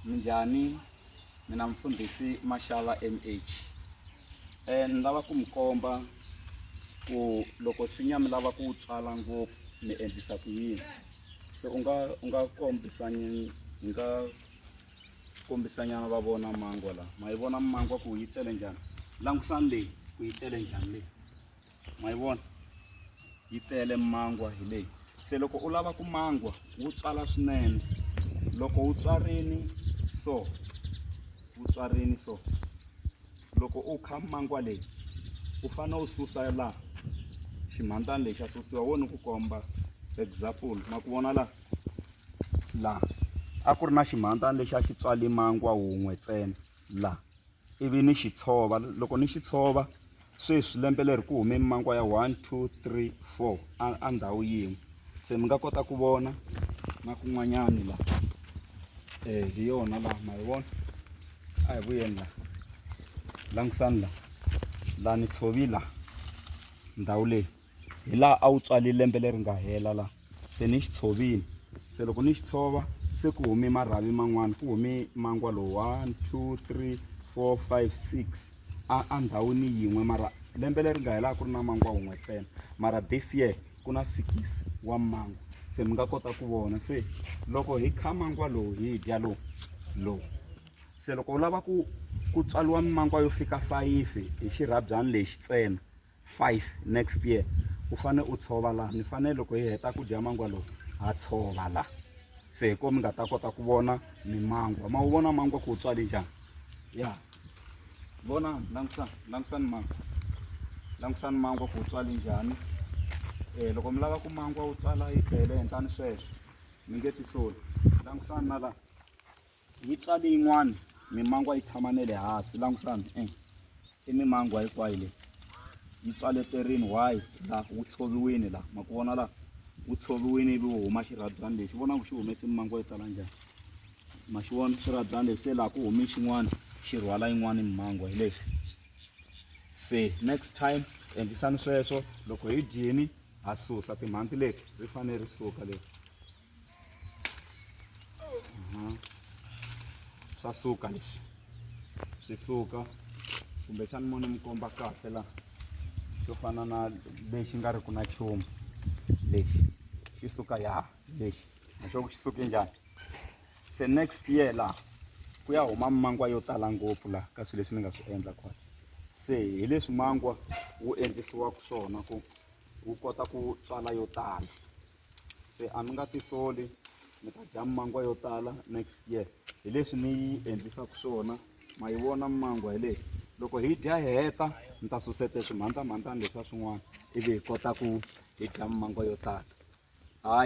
Minjhani mina mfundhisi Mashala MH eh ni lava ku mi komba ku loko nsinya mi lava ku wu tswala ngopfu mi endlisa ku yini se u nga u nga kombisa ni ni nga kombisa nyana va vona mangwa la ma yi vona mangwa ku yi tele njhani langusani leyi ku yi tele njhani leyi ma yi vona yi tele mangwa hi leyi se loko u lava ku mangwa wu tswala swinene loko wu tswarini so wu tswarini so loko u kha mangwa leyi u fanele u susa laha ximhandzani lexi a susiwa wo ni ku komba example ma ku vona laha laha a ku ri na ximhandzani lexi a xi tswali mangwa wun'we ntsena la ivi ni xi tshova loko ni xi tshova sweswi lembe leri ku hume mimankwa ya one two three four a ndhawu yin'we se mi nga kota ku vona na kun'wanyani la um hi yona laha ma yi vona a hi vuyeni la langisani la la ni tshovi la ndhawu leyi hi laha a wu tswale lembe leri nga hela la se ni xi tshovini se loko ni xi tshova se ku hume marhavi man'wani ku hume mangwa lowu one two three four five six a a ndhawini yin'we mara lembe leri nga hela a ku ri na mangwa wun'we ntsena mara this year ku na six wa mangwa se mi nga kota ku vona se loko hi kha mangwa lowu hi dya lowu lowu se loko u lava ku ku tswaliwa mimangwa yo fika fayifi hi xirhabyani lexi ntsena five next year u fane u tshova la ni fane loko hi heta ku dya mangwa lowu ha tshova la se hi ko mi nga ta kota ku vona mimangwa ma wu vona mangwa ku wu tswale njhani ya vona langusani langusani mangwa langusani mangwa ku wu tswale njhani um loko mi lava ku mangwa wu tswala yi tele henhlani sweswo mi nge tisoli langusani na laha yi tswale yin'wana mimangwa yi tshama ne le hansi langutani e i mimangwa hinkwayo leyi yi tswale terini why laha wu tshoviwini laha ma ku vona laha wu tshoviwini ivi wu huma xirhabyani lexi vona ku xi humesi mimangwa yo tala njhani ma xi vona xirhabyani lexi se laha ku humi xin'wana xi rhwala yin'wana mimangwa hi lexi se next time endlisani sweswo loko hi dyini ha susa timhanti leti ri fanele ri suka leti Mhm. swa suka leswi swi suka kumbexani mo ni mi komba kahle la swo fana na lexi nga ri ku na chumu lexi xi suka ya lexi naswo ku xi suke njhani se next year laha ku ya huma mangwa yo tala ngopfu laha ka swilo leswi ni nga swi endla kona se hi leswi mangwa wu endlisiwaka swona ku wu kota ku tswala yo tala se a mi nga tisoli mi ta dya mangwa yo tala next year hi leswi ni yi endlisaka swona ma yi vona mangwa hi leyi loko hi dya hi heta ni ta susete swimhandzamhandzana leswa swin'wana ivi hi kota ku hi dya mangwa yo tala hayi